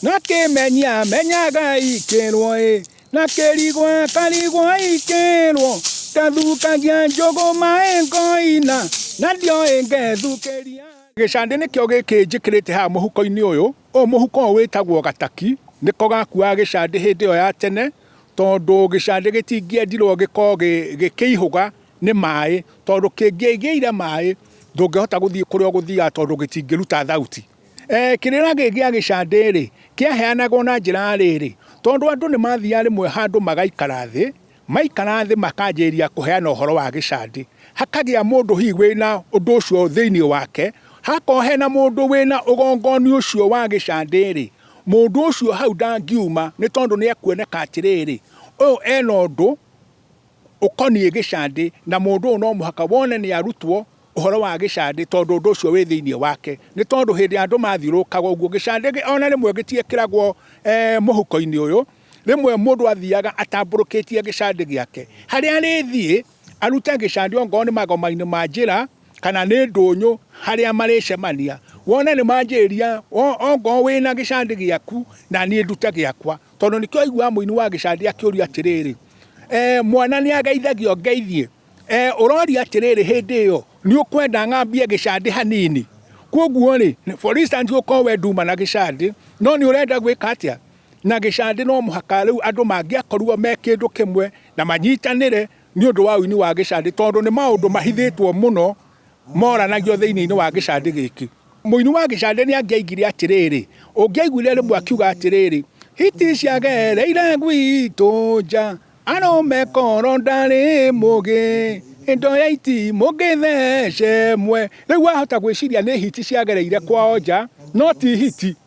Nake menya menyaga ikĩrwo ĩ na kĩrigwa karigwa ikĩrwo gathukagia njũgũ maĩ ngoina na ndio ĩngethukĩria gĩcandĩ nĩkĩo gĩkĩ njĩkĩrĩte haha mũhuko-inĩ ũyũ ũyũ mũhuko ũyũ wĩtagwo gataki nĩko gakuaga gĩcandĩ hĩndĩ ĩyo ya tene tondũ gĩcandĩ gĩtingĩendirwo gĩkorwo gĩkĩihũga nĩ maĩ tondũ kĩngĩgĩire maĩ ndũngĩhota gũthiĩ kũrĩa ũgũthiaga tondũ gĩtingĩruta thauti. E, kĩrĩra gĩkĩ gĩa gĩcandĩ-rĩ, kĩaheanagwo na njĩra ya rĩrĩ, tondũ andũ nĩ maathiaga rĩmwe handũ magaikara thĩ, maikara thĩ makanjĩrĩria kũheana ũhoro wa gĩcandĩ, hakagĩa mũndũ hihi wĩna ũndũ ũcio thĩinĩ wake, hagakorwo hena mũndũ wĩna ũgongoni ũcio wa gĩcandĩ-rĩ, mũndũ ũcio hau ndangiuma nĩ tondũ nĩ ekuoneka atĩrĩrĩ, ũyũ ena ũndũ. ũkoniĩ gĩcandĩ, na mũndũ ũyũ no mũhaka wone nĩ arutwo ũhoro wa gĩcandĩ tondũ ũndũ ũcio wĩ thĩinĩ wake. Nĩ tondũ hĩndĩ ĩrĩa andũ mathiũrũrũkaga ũguo, gĩcandĩ ona rĩmwe gĩtiĩkĩragwo mũhuko-inĩ ũyũ, rĩmwe mũndũ athiaga atambũrũkĩtie gĩcandĩ gĩake. Harĩa arĩthiĩ arute gĩcandĩ okorwo nĩ magoma-inĩ ma njĩra, kana nĩ ndũnyũ harĩa marĩcemania, wone nĩ manjĩrĩria okorwo wĩna gĩcandĩ gĩaku, na niĩ ndute gĩakwa. Tondũ nĩkĩo aiguaga mũini wa gĩcandi akĩũria atĩrĩrĩ, e, mwana nĩ ageithagio ngeithie e, ũroria atĩrĩrĩ hĩndĩ ĩyo nĩ ũkwenda ng'ambie gĩcandi hanini koguo rĩ for instance ũkorwo we nduma na gĩcandi no nĩ ũrenda gwĩka atĩa na gĩcandi no mũhaka rĩu andũ mangĩakorirwo me kĩndũ kĩmwe na manyitanĩre nĩ ũndũ wa ũini wa gĩcandi tondũ nĩ maũndũ mahithĩtwo mũno moranagio thĩinĩ-inĩ wa gĩcandĩ gĩkĩ. Mũini wa gĩcandĩ nĩ angĩaigire atĩrĩrĩ, ũngĩaiguire rĩmwe akiuga atĩrĩrĩ, hiti ciagereire gwitũ nja, arũme koro ndarĩ mũgĩ, indo ya iti mũngĩthece mwe. Rĩu wahota gwĩciria nĩ hiti ciagereire kwao nja, no ti hiti.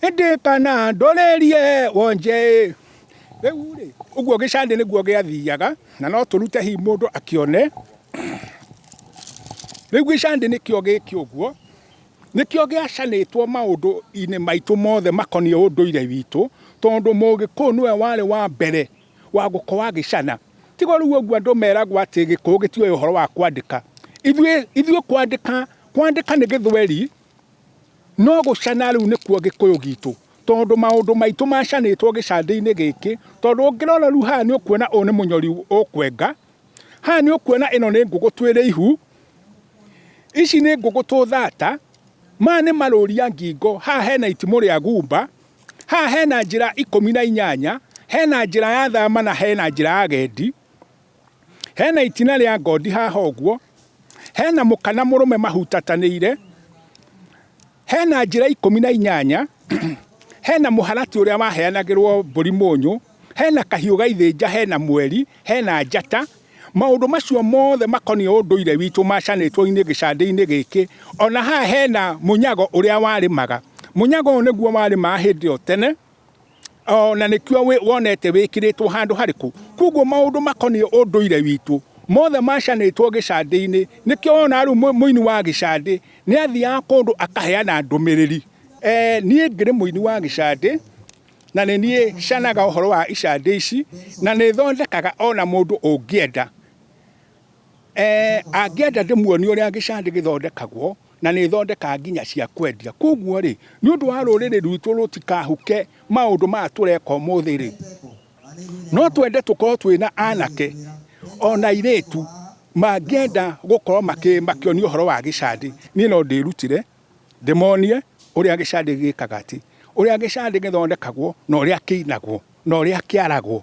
ĩndĩ kana ndorerie wonje rĩu rĩ ũguo gĩcandĩ nĩguo gĩathiaga na no tũrute hihi mũndũ akĩone rĩu gĩcandĩ nĩkĩo gĩkĩ ũguo nĩkĩo gĩacanĩtwo maũndũ-inĩ maitũ mothe makoniĩ ũndũire witũ tondũ mũgĩkũyũ nĩwe warĩ wa mbere wa gũkorwo agĩcana tiga rĩu ũguo andũ meragwo atĩ gĩkũyũ gĩtiũĩ ũhoro wa kwandĩka ithuĩ kwandĩka nĩ gĩthweri. No gũcana rĩu nĩkuo gĩkũyũ gitũ tondũ maũndũ maitũ macanĩtwo gĩcandĩ-inĩ gĩkĩ, tondũ ũngĩrora rĩu haha nĩ ũkuona ũyũ nĩ mũnyori ũkwenga, haha nĩ ũkuona ĩno nĩ ngũgũtũ ĩrĩ ihu, ici nĩ ngũgũtũ thata, maya nĩ marũria ngingo, haha hena itimũ rĩa gumba, haha hena njĩra ikũmi na inyanya, hena njĩra ya thama na hena njĩra ya gendi. Hena itina rĩa ngondi haha ũguo, hena mũkana mũrũme mahutatanĩire, hena njĩra ikũmi na inyanya, hena mũharatĩ ũrĩa waheanagĩrwo mbũri mũnyũ, hena kahiũ gaithĩnja, hena mweri, hena njata. Maũndũ macio mothe makoniĩ ũndũire witũ macanĩtwo gĩcandĩ-inĩ gĩkĩ. Ona haha hena mũnyago ũrĩa warĩmaga. Mũnyago ũyũ nĩguo warĩmaga hĩndĩ ĩyo tene. o na nĩkĩo wĩ- wonete wĩkĩrĩtwo handũ harĩkũ koguo maũndũ makoniĩ ũndũire witũ mothe macanĩtwo gĩcandĩ-inĩ nĩkĩo wona rĩu mũ- mũini wa gĩcandĩ nĩ athiaga kũndũ akaheana ndũmĩrĩri eh, niĩ ngĩrĩ mũini wa gĩcandĩ na nĩ niĩ canaga ũhoro wa icandĩ ici na nĩ thondekaga ona mũndũ ũngĩenda Eh, angĩenda ndĩmuonie ũrĩa gĩcandĩ gĩthondekagwo na nĩ thondeka nginya cia kwendia koguo rĩ nĩ ũndũ wa rũrĩrĩ rwitũ rũtikahuke maũndũ maya tũreka ũmũthĩ rĩ no twende tũkorwo twĩna anake ona irĩtu mangĩenda gũkorwo makĩonio ũhoro wa gĩcandĩ niĩ no ndĩrutire ndĩmonie ũrĩa gĩcandĩ gĩkaga atĩ ũrĩa gĩcandĩ gĩthondekagwo na ũrĩa kĩinagwo na ũrĩa kĩaragwo